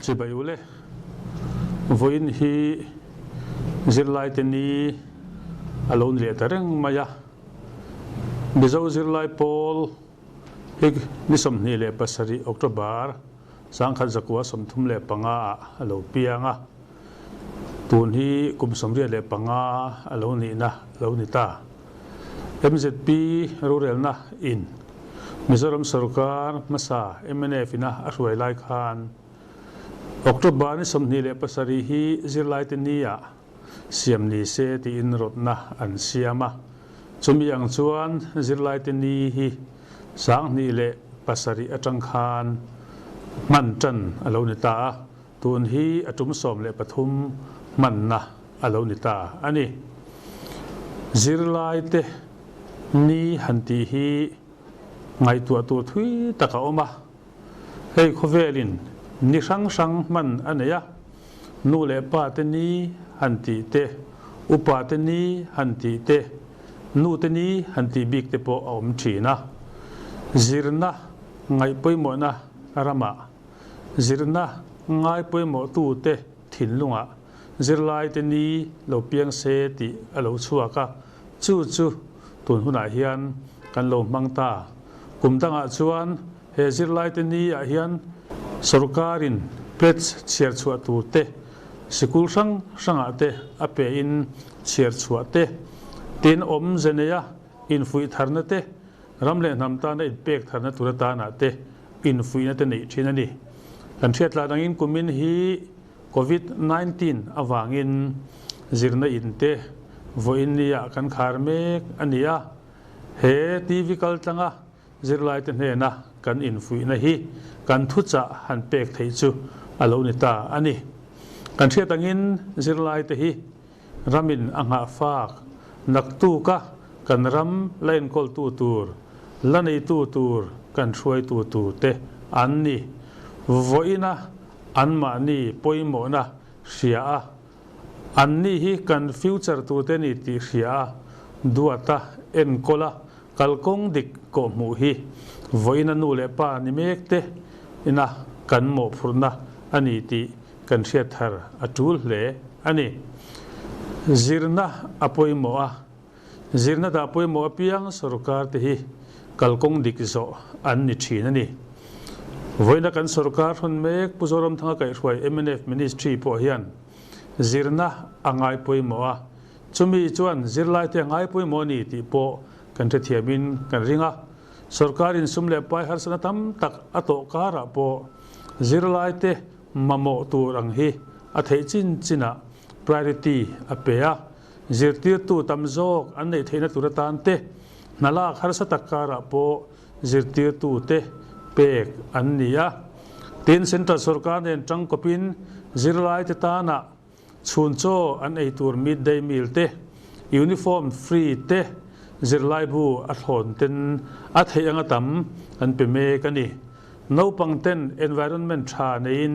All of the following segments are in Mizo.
Chibai u le. Vawiin hi zirlaite ni a lo nileh ta reng mai a. Mizo zirlai pawl hi ni sawmhnih leh pasarih October sangkhat zakua sawmthum leh panga ah a lo piang a. Tun hi kum sawmriat leh panga a lo nihna a lo ni ta. Mzp rurelna in Mizoram sawrkar hmasa mnf ina a hruai lai khan October ni sawmhnih leh pasarih hi zirlaite ni a siam ni se tiin rawtna an siam a, chumi ang chuan zirlaite ni hi sanghnih leh pasarih atang khan hman tan a lo ni ta a. Tun hi a tum sawm leh pathum hmanna a lo ni ta a ni. Zirlaite ni han tih hi ngaihtuah tur thui tak a awm a, hei khawvelin ni hrang hrang hman a nei a, nu leh pate ni han tih te, upate ni han tih te, nute ni han tih bik te pawh a awm thin a. Zirna ngaih pawimawhna ramah. Zirna ngai pawimawhtu te thinlungah zirlaite ni lo piang se tih a lo chhuak a, chu chu tun hunah hian kan lo hmang ta. Kum dangah chuan he zirlaite ni ah hian sorkarin pledge chhiar chhuah tur te, sikul hrang hrangah te a pe in chhiar chhuah te, tin awm ze nei a. Infuih tharna te, ram leh hnam tana inpek tharna tur atanah te infuihna te neih thin a ni. Kan hriatlan angin kumin hi Covid nineteen avangin zirna in te vawiin niah kan khar mek a ni a, he TV kaltlanga zirlaite hnena kan infuihna hi kan thuchah han pek theih chu a lo ni ta a ni. Kan hriat angin zirlaite hi Ramin a nghah fak naktuk a kan ram la enkawltu tur, la neitu tur kan hruaitu tur te an ni. Vawiin a anmahni pawimawhna hria a, anni hi kan future tu te ni tih hria a, duat a enkawl a kalkawng dik kawhhmuh hi vawiin a nu leh pa ni mek te ina kan mawhphurhna a ni tih kan hriat thar a tul hle a ni. Zirna a pawimawh a, zirna dah pawimawh apiang sorkar te hi kal kawng dik zawh an ni thin a ni. Vawiina kan sorkar hrawn mek Pu Zoramthanga kaihhruai mnf ministry pawh hian zirna a ngai pawimawh a, chumi chuan zirlai te a ngai pawimawh a ni tih pawh kan hrethiam in kan ring a, sorkar insum leh pai harsatna tam tak a tawh karah pawh zirlai te Mamawh tur ang hi a theih chin chin a, priority a pe a. Zirtirtu tam zawk an neih theihna tur atan te, hna lak harsa tak karah pawh zirtirtu te pek an ni a. Tin, Central Sorkar nen tangkawpin zirlaite tanah Chhun chaw an ei tur mid day meal te, uniform free te, zirlaibu a thlawn ten a theih anga tam an pe mek a ni. Naupang ten environment tha neiin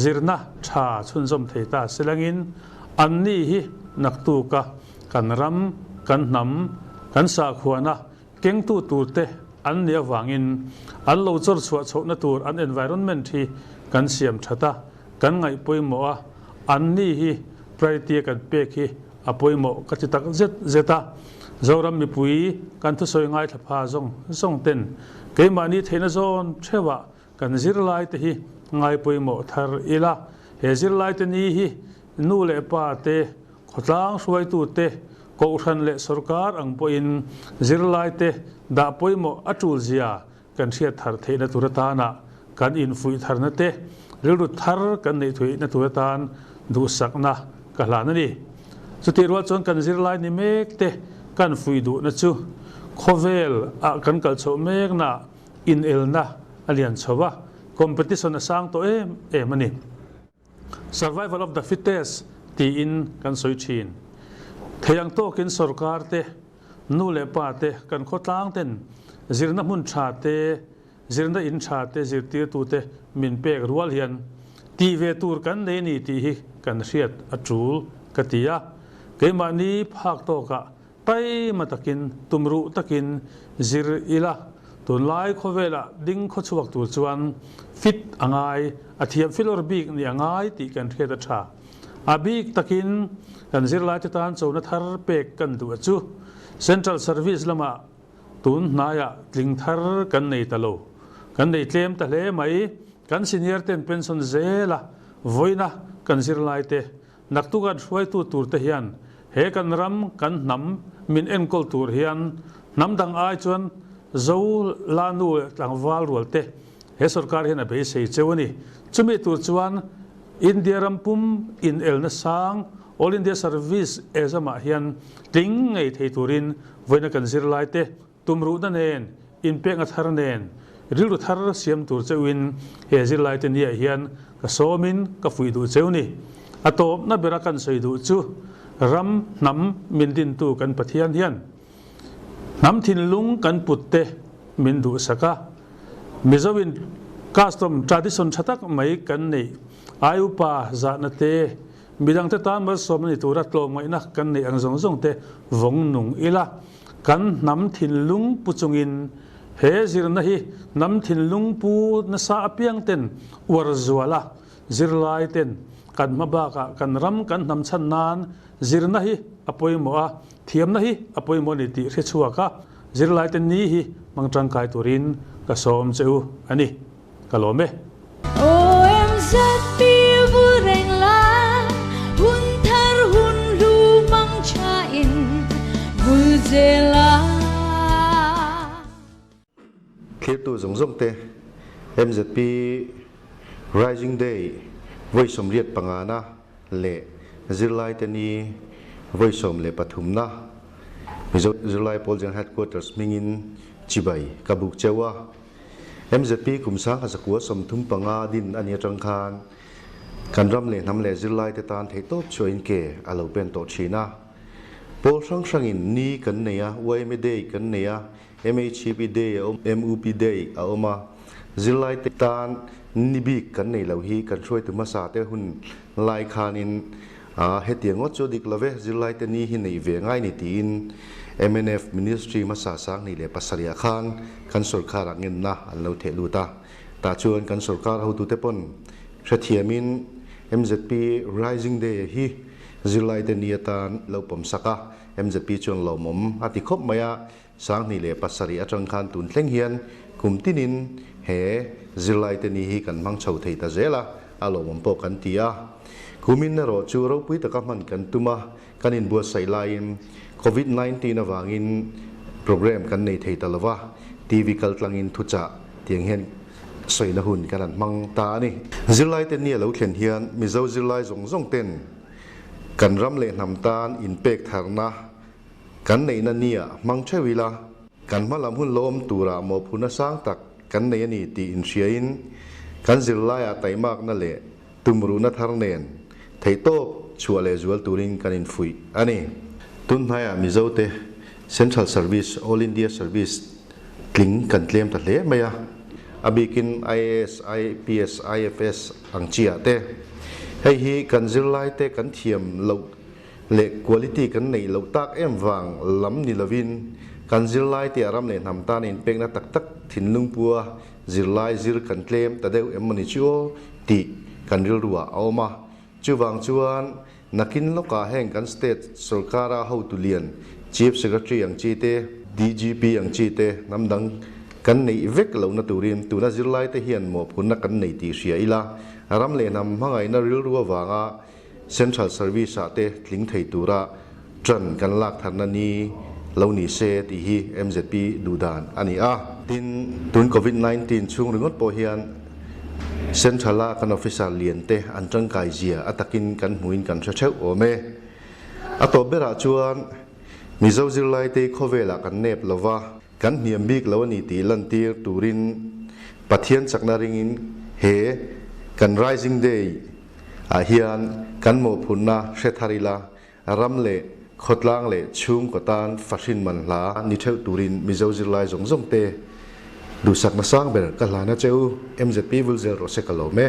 zirna tha chhunzawm thei ta silangin an nih hi naktuk a kan ram, kan hnam, kan sahkhuana Kengtu tur te an nih avangin an lo chawr chhuah chhohna tur an environment hi kan siam that a, kan ngaih pawimawh a, an ni hi priority a kan pek hi a pawimawh ka ti tak zet zet a. Zoram mipui kan thusawi ngaithla pha zawng zawng ten keimahni theihna zawn theuhah Kan zirlaite hi ngai pawimawh thar ila, he zirlaite ni hi nu leh pa te, khawtlang hruaitu te, Kohhran leh sawrkar ang pawhin zirlaite dah pawimawh a tulzia kan hriat thar theihna tur atana kan infuih tharna te, rilru thar kan neih theihna tur atan duhsakna ka hlan a ni. Chutih rual chuan kan zirlai ni mek te kan fuih duhna chu khawvel ah kan kal chhoh mek na, Inelna a lian chho a, competition a sang tawh em em a ni. Survival of the fittest tiin kan sawi thin. Thei ang tawkin sorkar te, nu leh pa te, kan khawtlang ten zirna hmun tha te, zirna in tha te zirtirtu te min pek rual hian tih ve tur kan nei ni tih hi kan hriat a tul ka ti a. Keimahni phak tawkah Taima takin, tumruh takin zir ila tunlai khawvelah ding khaw chhuak tur chuan fit a ngai, a thiam filawr bik ni a ngai tih kan hriat a tha. A bik takin kan zirlaite tan chona thar pek kan duh a chu Central Service lamah tun hnaiah tling thar kan nei ta lo, kan nei tlem ta hle mai. Kan senior ten pension zela vawina kan zirlaite Naktuk an hruaitu tur te hian he kan ram kan hnam min enkawl tur hian hnam dang ai chuan zo la nu leh tlangval rual te he sorkar hian a beisei cheu a ni. Chumi tur chuan India ram pum in el na sang All India Service Exam ah hian tling ngei thei turin vawiina kan zir lai te Tumruhna nen, inpekna thar nen, rilru thar siam tur cheuhin he zirlaite ni ah hian ka sawmin ka fuih duh cheu ni. A tawpna bera kan sawi duh chu ram hnam min dintu kan Pathian hian hnam thinlung kan put te min duhsak a, Mizo in custom, tradition tha tak mai kan neih, ai upa zahna te, midangte tan malsawmna ni tura tlawmngaihna kan neih ang zawng zawng te vawng nung ila, Kan hnam thinlung pu chungin he zirna hi hnam thinlung pu nasa apiangten uar zual a, zirlaiten kan hma bakah kan ram kan hnam chhan nan zirna hi a pawimawh a, thiamna hi a pawimawh a ni tih hre chhuak a, zirlaiten ni hi hmang tangkai turin ka sawm che u a ni. ka lawm e. OMZ pil bul reng la hun thar hun hlu mang tha in vul zel a. Thlirtu zawng zawng te MZP Rising Day vawisawm riat pangana leh zirlai te ni vawisawm leh pathumna Mizo Zirlai Pawl General Headquarters hmingin chibai ka buk cheu a. Mzp kum sangha zakua sawmthum panga din a ni atang khan kan ram leh hnam leh zirlaite tan theihtawp chhuahin ke a lo pen tawh thin a. Pawl hrang hrangin ni kan nei a, yma day kan nei a, mhp day a awm, mup day a awm a, zirlaite tan ni bik kan nei lo hi kan hruaitu hmasa te hun lai khanin A, hetiang ngawt chu a dik lo ve, zirlaite ni hi neih ve ngai ni tiin mnf Ministry hmasa sang hnih leh pasarihah khan kan sorkarah ngenna an lo theh lut a. Tah chuan kan sorkar hotute pawn hrethiamin mzp Rising Day a hi zirlaite ni atan lo pawmsak a, mzp chuan lawmawm a ti khawp mai a. Sanghnih leh pasarih atang khan tun thleng hian kum tinin he zirlaite ni hi kan hmang chho thei ta zel a, a lawmawm pawh kan ti a. Kumin erawh chu ropui taka hman kan tum a, kan inbuatsaih laiin Covid nineteen avangin programme kan nei thei ta lo va, TV kal tlangin thuchah tiang hian sawina hun kan han hmang ta a ni. Zirlaite ni a lo thlen hian Mizo zirlai zawng zawng ten kan ram leh hnam tan inpek tharna Kan neihna nia hmang theuh ila, kan hma lam hun lawm tura mawhphurhna sang tak kan nei a ni tih inhriain kan zirlaiah taimakna leh tumruhna thar nen theihtawp chhuah leh zual turin kan infuih a ni. Tun hnaiah Mizote Central Service, All India Service tling kan tlem ta hle mai a, a bikin IAS, IPS, IFS ang chiahte hei hi kan zirlaite kan thiam loh leh quality kan neih loh tak em vang lam ni lovin kan zirlai te a ram leh hnam tana inpekna tak tak thinlung pua zirlai zir kan tlem ta deuh emmawni chu aw tih kan rilruah a awm a. Chuvang chuan nakin lawkah heng kan state sorkara hotu lian, chief secretary ang chi te, DGP ang chi te hnam dang kan neih vek lohna turin tuna zirlai te hian mawhphurhna kan nei tih hria ila ram leh hnam hmangaihna rilru avanga Central Service ah te tling thei tura ṭan kan lak tharna ni lo ni se tih hi mzp duh dan a ni a. Tin, tun Covid nineteen chhung ringawt pawh hian Central a kan officer lian te an ṭangkai zia a takin kan hmuin kan hre ṭheuh awm e. A tawp berah chuan Mizo zirlaitei khawvelah kan nep lo va, Kan hniam bik lo a ni tih lantir turin Pathian chakna ringin he kan Rising Day ah hian kan mawhphurhna hre thar ila, ram leh khawtlang leh chhungkaw tan fahrin man hla ni theuh turin Mizo zirlai zawng zawngte duhsakna sang ber ka hlan a che u, MZP vulzel rawh se ka lawm e.